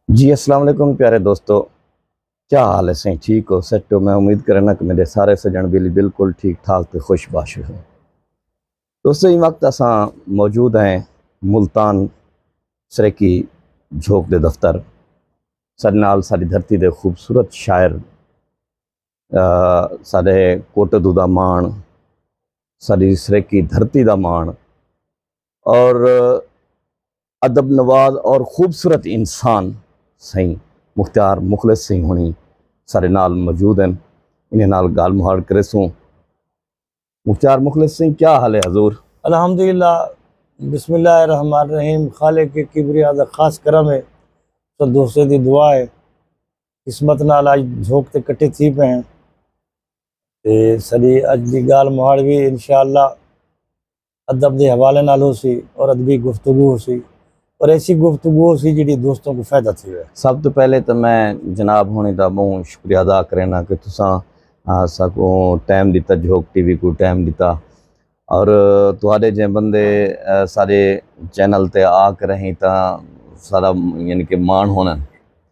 جی السلام علیکم پیارے دوستو کیا حال ہے سائیں ٹھیک ہو سیٹ ہو میں امید کرنا کہ میرے سارے سجن بیلی بالکل ٹھیک ٹھاک تے خوش باش ہو دوستو یہ وقت اساں موجود ہیں ملتان سریکی جھوک دے دفتر سارے نال ساری دھرتی دے خوبصورت شاعر سارے کوٹدو دا مان ساری سریکی دھرتی دا مان اور ادب نواز اور خوبصورت انسان سائیں مختار مخلص سائیں ہونی سارے نال موجود ہیں انہیں نال گال مہاڑ کرے سوں مختار مخلص سائیں کیا حال ہے حضور الحمدللہ بسم اللہ الرحمن الرحیم خالق کے کبریا دا خاص کرم ہے تو دوسرے دی دعا ہے قسمت نال اج جھوک تے کٹے تھی پہ ہیں تے سلی اج دی گال مہاڑ بھی انشاءاللہ ادب دے حوالے نال ہوسی اور ادبی گفتگو ہوسی اور ایسی گفتگو ہوسی جیڑھی دوستوں کوں فائدہ تھیوے۔ سب توں پہلے تاں میں جناب ہوݨیں دا ٻہوں شکریہ ادا کرینداں کہ تساں اساکوں ٹائم ݙتا جھوک ٹی وی کوں ٹائم ݙتا اور تہاݙے جیہے بندے ساݙے چینل تے آ کرہیں تاں ساݙا یعنی کہ ماݨ ہوندن۔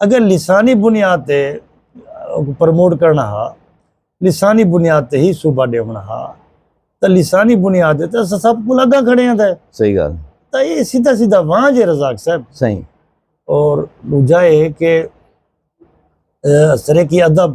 اگر لسانی بنیاد تے پروموٹ کرنا ہا لسانی بنیاد تے ہی صوبہ ڈیونا ہا تا لسانی بنیاد تے اسا سب کو لگا کھڑے ہیں تھے صحیح گال تا یہ سیدھا سیدھا وہاں جے رزاق صاحب صحیح اور دوجہ ہے کہ سرکی ادب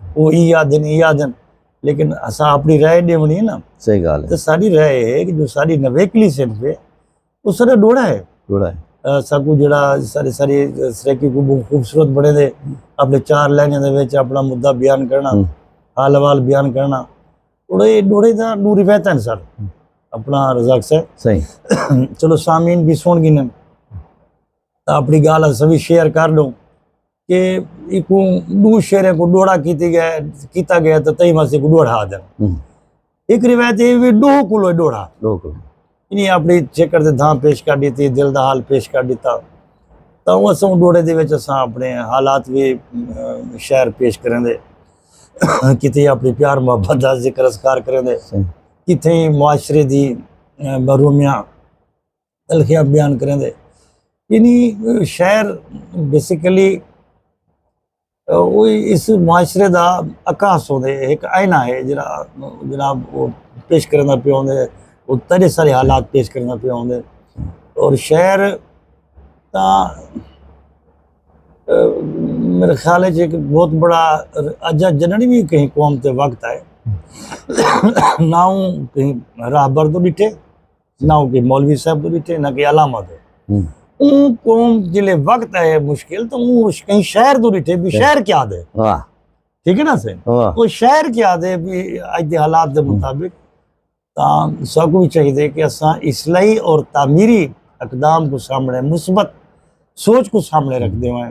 او ای آدھن ای آدھن لیکن اساں اپنی رائے ڈیونی ہے نا صحیح گال ہے تو ساری رائے ہے کہ جو ساری نویکلی صنف ہے اس طرح ڈوڑا ہے ڈوڑا ہے ساکو جڑا سارے سارے سریکی کو بہت خوبصورت بڑے دے اپنے چار لہنے دے وچ اپنا مدعا بیان کرنا حال حوال بیان کرنا اور یہ ڈوڑے دا دو روایت ہیں سر اپنا رزاق سے صحیح چلو سامین بھی سن گنن اپنی گال سبھی شیئر کر لوں کہ ایکوں دو شعریں کو ڈوڑا کیتی گیا ہے کیتا گیا ہے تو تہی ماسی کو ڈوڑا آدھا ایک روایت یہ بھی ڈو کلو ڈوڑا ڈو کلو انہیں اپنی چکر دے دھاں پیش کر دیتی دل دا حال پیش کر دیتا تا وہ اساں ڈوڑے دے وچ اساں اپنے حالات بھی شعر پیش کریں دے کتھے اپنی پیار محبت دا ذکر اذکار کریں دے کتھے معاشرے دی محرومیاں تلخیاں بیان کریندے یعنی شعر بیسیکلی اس معاشرے دا عکاس ہوندے ایک آئینہ ہے جڑا جناب وہ پیش کرنا پہ ہوندے وہ تیرے سارے حالات پیش کرنا پہ ہوندے اور شعر تا میرے خیال ہے کہ ایک بہت بڑا اجا جنڑی بھی کہیں قوم تے وقت آئے نہ کہیں راہ بردو ڈٹھے نہ ہوں کہ مولوی صاحب دے بیٹھے نہ کہ علامہ دے اون قوم جلے وقت ہے مشکل تو اون کہیں شہر دو بیٹھے بھی شہر کیا دے ٹھیک ہے نا سے وہ شہر کیا دے بھی اج دے حالات دے مطابق تا سب کو چاہیے دے کہ اساں اصلاحی اور تعمیری اقدام کو سامنے مثبت سوچ کو سامنے رکھ دے ہوئے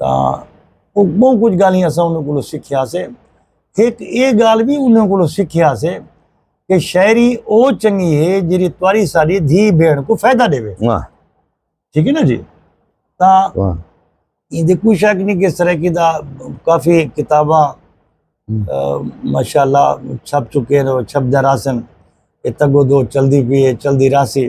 تاں او بہت کچھ گالیاں اساں انہاں کولوں سکھیا سے ایک اے گال بھی انہاں کولوں سکھیا سے کہ شاعری او چنگی ہے جڑی تواری ساری دھی بھیڑ کو فائدہ دے وے ٹھیک ہے نا جی تاں یہ دے کوئی شک نہیں کہ اس طرح کی دا کافی کتاباں ماشاءاللہ چھپ چکے ہیں چھپ دے راسن اتگو دو چل دی پیئے چل دی راسی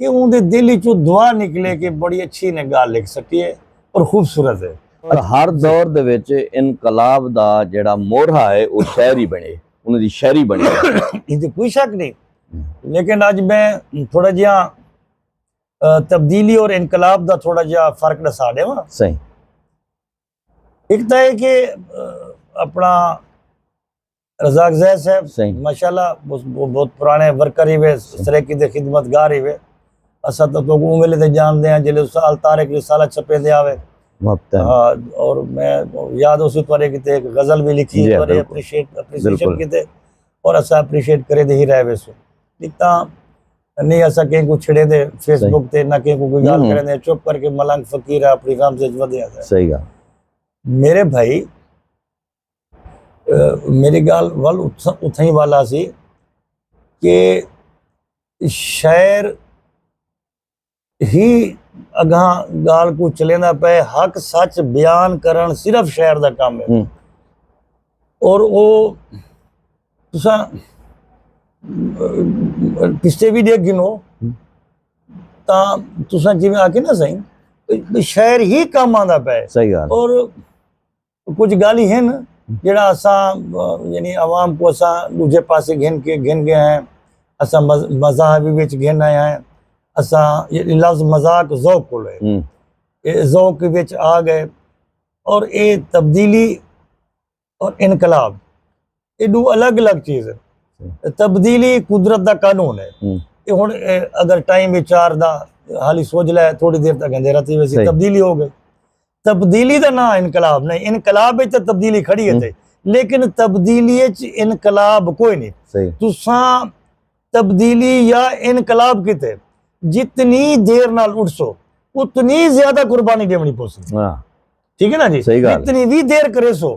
کہ اون دے دل چو دعا نکلے کہ بڑی اچھی نے گال لکھ سکی ہے اور خوبصورت ہے اور ہر دور دے وچ انقلاب دا جڑا مورہ ہے او شعر ہی بنے انہاں دی شعری بنے ایں تے کوئی شک نہیں لیکن اج میں تھوڑا جیا تبدیلی اور انقلاب دا تھوڑا جیا فرق ڈسا دے ہاں صحیح ایک تا ہے کہ اپنا رزاق زید صاحب صحیح ماشاءاللہ بہت پرانے ورکر ہی وے سریکی دے خدمت گار ہی وے اسا تو تو اون ویلے تے جان دے ہیں جلے اس سال تارک رسالہ چھپے دے آوے ہاں، اور میں یاد اسی پرے کیتے ایک غزل بھی لکھی جی، پرے اپریشیٹ اپریشیشن کیتے اور اسا اپریشیٹ کرے دے ہی رہے وے سو لکھتا نہیں اسا کہیں کو چھڑے دے فیس بک تے نہ کہیں کو کوئی گال کرے دے چپ کر کے ملنگ فقیر ہے اپنی غام سے جمع دے آتا ہے صحیح گا میرے بھائی میری گال ول اتھا ہی والا سی کہ شاعر ہی اگاں گال کو چلیندا پے حق سچ بیان کرن صرف شاعر دا کام ہے اور او تساں پچھتے بھی دیکھ گنو تا تساں جی میں آکے نا سائیں شاعر ہی کام آندا پے اور کجھ گالھیں ہن جیڑھا اساں یعنی عوام کو اساں دوجھے پاسے گھن کے گھن گئے ہیں اساں مزاح بھی وچ گھن آئے ہیں اساں یہ لفظ مزاق ذوق کو لے یہ ذوق کے وچ آ گئے اور اے تبدیلی اور انقلاب یہ دو الگ الگ چیز ہے تبدیلی قدرت دا قانون ہے یہ ہن اگر ٹائم وچ چار دا حالی سوج لے تھوڑی دیر تک اندھیرا تھی ویسی تبدیلی ہو گئی تبدیلی دا نہ انقلاب نہیں انقلاب وچ تبدیلی کھڑی ہے لیکن تبدیلی وچ انقلاب کوئی نہیں تساں تبدیلی یا انقلاب کیتے جتنی دیر نال اٹھ سو اتنی زیادہ قربانی دیونی پوسی ہاں۔ ٹھیک ہے نا جی جتنی بھی دیر کرے سو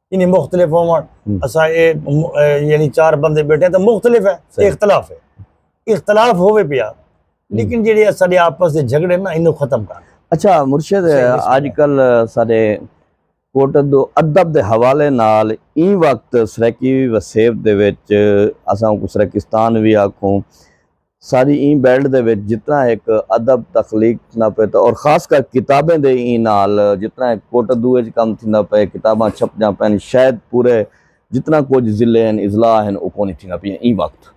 یعنی مختلف ہون اسا اے یعنی چار بندے بیٹھے ہیں تو مختلف ہے اختلاف ہے اختلاف ہوئے پیا لیکن جیڑے اساڑے آپس دے جھگڑے نا انہوں ختم کر اچھا مرشد آج کل سارے کوٹ دو ادب دے حوالے نال این وقت سریکی وسیب دے ویچ اساں کو سریکستان بھی آکھوں ساری ایں بیلٹ دے وچ جتنا ہک ادب تخلیق تھیندا پئے تے اور خاص کر کتابیں دے ایں نال جتنا ہک کوٹدو اچ کم تھیندا پئے کتاباں چھپدیاں پئن شاید پورے جتنا کجھ ضلعے ہن اضلاع ہن او کونی تھیندا پئیاں ایں وقت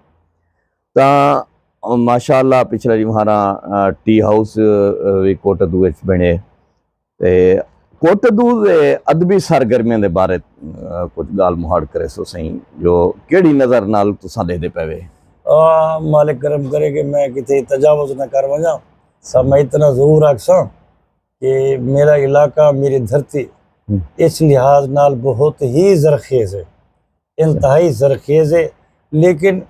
تاں ماشاءاللہ پچھلے ریمہاراں ٹی ہاؤس وی کوٹدو اچ بنڑے۔ تے کوٹہ دودھ دے ادبی سرگرمیاں دے بارے کجھ گالھ مہاڑ کریسو سئیں جو کیڑھی نظر نال تساں ڈیہدے پئے وے۔ مالک کرم کرے کہ میں کتھے تجاوز نہ کر ونجاں سا میں اتنا ضرور آکھساں کہ میرا علاقہ میری دھرتی اس لحاظ نال بہت ہی زرخیز ہے انتہائی زرخیز ہے لیکن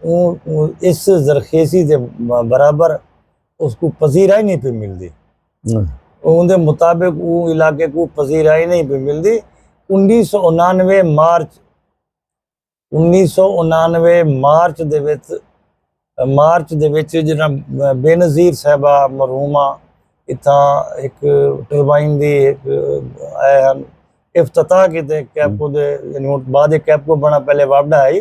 اس زرخیزی دے برابر اس کو پذیرائی نہیں پہ ملدی۔ اوندے مطابق او علاقے کوں پذیرائی نئیں پئی ملدی۔ انیس سو انانوے مارچ انیس سو انانوے مارچ دے وچ مارچ دے وچ جڈاں بے نظیر صاحبہ مرحومہ اتھاں ہک ٹربائن دی ہک اے ہن افتتاح کیتے کیپکو دے یعنی ہن بعد کیپکو بنڑا پہلے واپڈا ہئی۔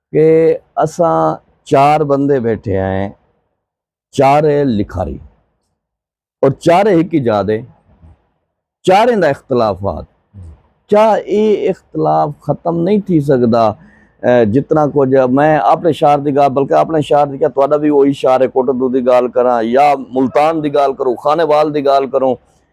کہ اساں چار بندے بیٹھے ہیں چارے لکھاری اور چارے ہکی جادے چارے دا اختلافات کیا اے اختلاف ختم نہیں تھی سکدا جتنا کو جا میں اپنے شہر دی گال بلکہ اپنے شہر دی کیا تو اڈا بھی وہی شہر ہے کوٹر دو دی گال کرا یا ملتان دی گال کرو خانے وال دی گال کرو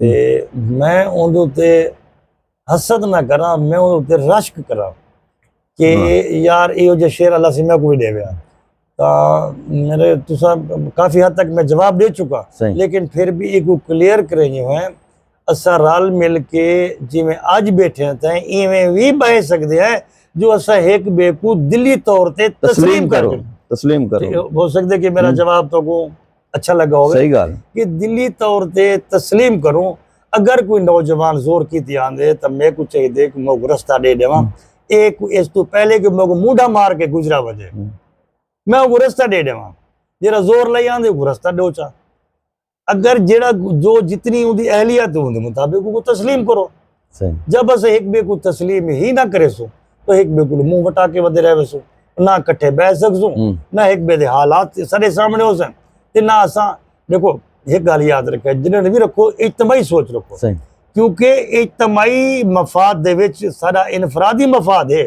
تے میں اوندے تے حسد نہ کراں میں اوندے تے رشک کراں کہ یار ایو جے شعر اللہ سے میں کوئی دے ویا تا میرے تسا کافی حد تک میں جواب دے چکا لیکن پھر بھی ایک کلیئر کرے نہیں ہوئے اسا رال مل کے جی میں آج بیٹھے ہیں تاں ایویں وی بائے سکتے ہیں جو اسا ایک بے کو دلی طور تے تسلیم کرو تسلیم کرو ہو سکتے کہ میرا جواب تو کو اچھا لگا ہوگا صحیح گال کہ دلی طور تے تسلیم کروں اگر کوئی نوجوان زور کی تی آندے تو میں کو چاہی دے کہ موگ رستہ دے دے وہاں ایک اس تو پہلے کہ موگ موڈا مار کے گزرا وجے میں وہ رستہ دے دے وہاں جیرا زور لئی آندے وہ رستہ دو چاہ اگر جیرا جو جتنی ہوں دی اہلیت ہوں دی مطابق وہ تسلیم کرو جب اسے ہک بے کو تسلیم ہی نہ کرے سو تو ہک بے کو منہ وٹا کے ودے رہے سو نہ کٹھے بہ سک سو نہ ہک بے دے حالات سارے سامنے ہو سن تے نہ اساں دیکھو ایک گل یاد رکھے جنہاں نے بھی رکھو اجتماعی سوچ رکھو کیونکہ اجتماعی مفاد دے وچ سارا انفرادی مفاد ہے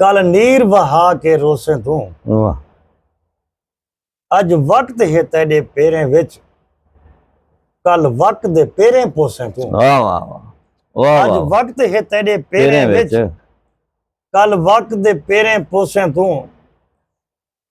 کل نیر وہا کے روسیں توں واہ اج وقت ہے تیڈے پیریں وچ کل وقت دے پیریں پوسیں توں واہ واہ واہ واہ اج واہ وقت ہے تیڈے پیریں پیریں وچ وچ کل وقت دے پیریں پوسیں توں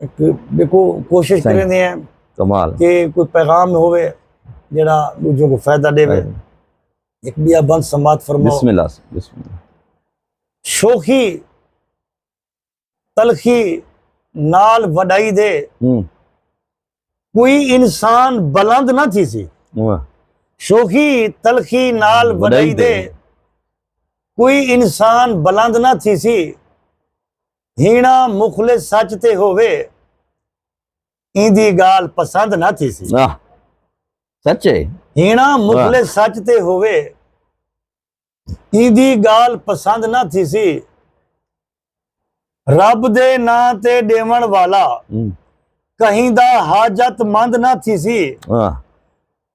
دیکھو کوشش کریں دے ہیں کمال کہ کوئی پیغام ہوئے جڑا دوجوں کو فائدہ دے وے ایک بیا بند سماعت فرماؤ بسم اللہ بسم اللہ شوخی تلخی نال وڈائی دے کوئی انسان بلند نہ تھی سی شوخی تلخی نال وڈائی دے کوئی انسان بلند نہ تھی سی ہینا مخلص سچ تے ہووے ایندی گال پسند نہ تھی سی واہ سچ ہے ہینا مخلص سچ تے ہووے ایندی گال پسند نہ تھی سی رب دے نا تے ڈیون والا ہم، کہیں دا حاجت مند نہ تھی سی واہ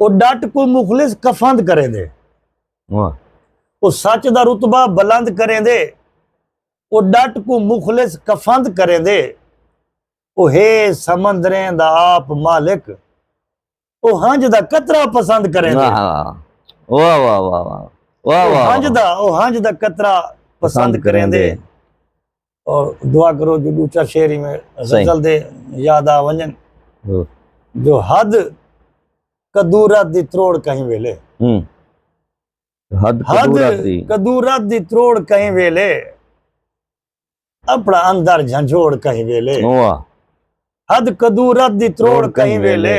او ڈٹ کوں مخلص کفند کریندے۔ او سچ دا رتبہ بلند کریندے۔ او ڈٹ کوں مخلص کفند کریندے۔ او ہے سمندریں دا آپ مالک۔ او ہنج دا قطرہ پسند کریندے۔ او ہنج دا قطرہ پسند کریندے۔ اور دعا کرو جو دو چار شعر ہی میں غزل دے یاد آ ونجن جو حد قدورت دی تروڑ کہیں ویلے حد قدورت دی تروڑ کہیں ویلے اپنا اندر جھنجھوڑ کہیں ویلے حد قدورت دی تروڑ کہیں ویلے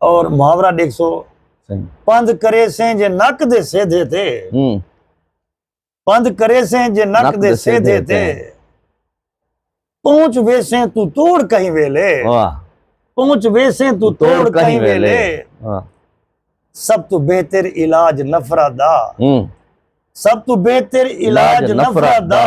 اور محاورہ دیکھ سو پند کرے سے جے نک دے سیدھے تے پند کرے سے جے نک دے سیدھے تے پہنچ ویسے تو توڑ کہیں ویلے پہنچ ویسے تو توڑ کہیں ویلے سب تو بہتر علاج نفرہ دا سب تو بہتر علاج نفرہ دا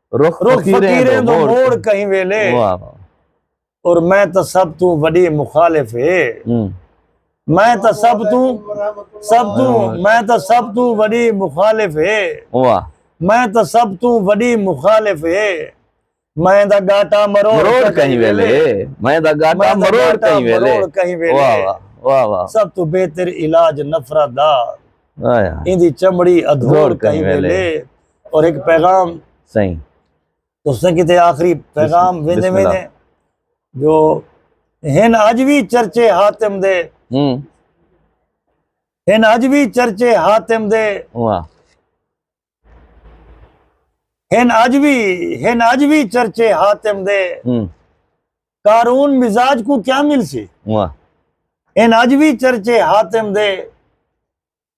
رخ فقیریں دو موڑ کہیں ویلے اور میں تا سب توں وڈی مخالف ہے میں تا سب توں سب توں میں تا سب توں وڈی مخالف ہے میں تا سب توں وڈی مخالف ہے میں دا گاٹا مروڑ کہیں ویلے میں دا گاٹا مروڑ کہیں ویلے کہیں ویلے سب تو بہتر علاج نفرت دا ایندی چمڑی ادھوڑ کہیں ویلے اور ایک پیغام صحیح تو اس نے کہتے آخری پیغام ویندے ویندے جو ہن اج بھی چرچے حاتم دے ہن اج بھی چرچے حاتم دے ہن اج بھی ہن اج بھی چرچے حاتم دے کارون مزاج کو کیا مل سی ہن اج بھی چرچے حاتم دے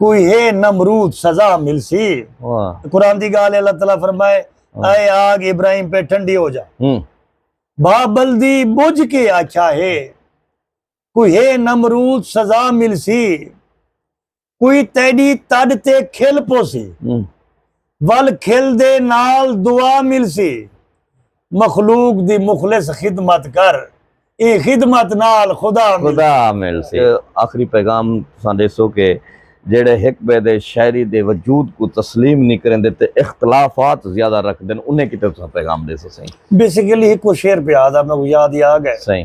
کوئی ہے نمرود سزا ملسی قرآن دی گال اللہ تعالیٰ فرمائے اے آگ ابراہیم پہ ٹھنڈی ہو جا بابل دی بجھ کے آچھا ہے کوئی ہے نمرود سزا ملسی کوئی تیڈی تڈ تے کھل پوسی ول کھل دے نال دعا ملسی مخلوق دی مخلص خدمت کر اے خدمت نال خدا خدا ملسی آخری پیغام تساں ڈیسو کہ جیڑے ہک بے دے شاعری دے وجود کو تسلیم نہیں کریندے تے اختلافات زیادہ رکھ دین انہیں کتے تساں پیغام ڈیسو سائیں بیسیکلی ہکو شعر پہ آدا میں کو یاد ہی آ گئے سائیں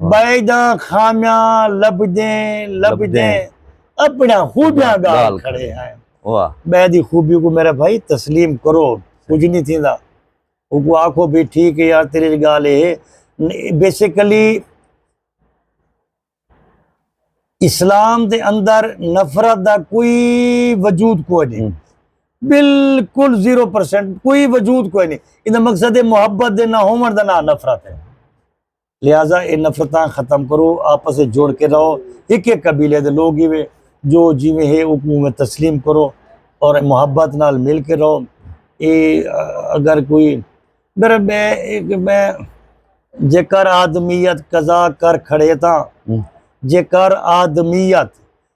بھائی دا خامیاں لبدیں لبدیں اپنا خوبیاں گال کھڑے ہیں بھائی دی خوبی کو میرا بھائی تسلیم کرو کچھ نہیں تھی دا وہ کو آکھو بھی ٹھیک ہے یار تیرے گال ہے بیسیکلی اسلام دے اندر نفرت دا کوئی وجود کوئی نہیں بالکل زیرو پرسنٹ کوئی وجود کوئی نہیں یہ مقصد محبت دے نہ ہومر دا نہ نفرت ہے لہذا اے نفرتاں ختم کرو آپس اچ جڑ کے رہو ہکے قبیلے دے لوگ ہیوے جو جیویں ہے اوکوں اوویں تسلیم کرو اور محبت نال مل کے رہو اے اگر کوئی میرا میں ایک میں جے کر آدمیت قضا کر کھڑے تاں جے کر آدمیت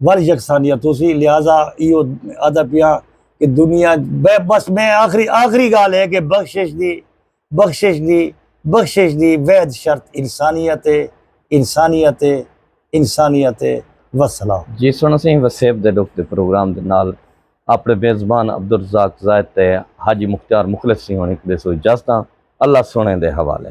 ول یکسانیت ہوسی لہذا ایو آدا پیاں کہ دنیا بس میں آخری آخری گال ہے کہ بخشش دی بخشش دی بخشش دی وید شرط انسانیت ہے انسانیت ہے انسانیت ہے وسلام جی سن اسی وسیب دے ڈوک دے پروگرام دے نال اپنے میزبان عبدالرزاق زائد تے حاجی مختار مخلص سی ہونے کدے سو اجازتاں اللہ سنے دے حوالے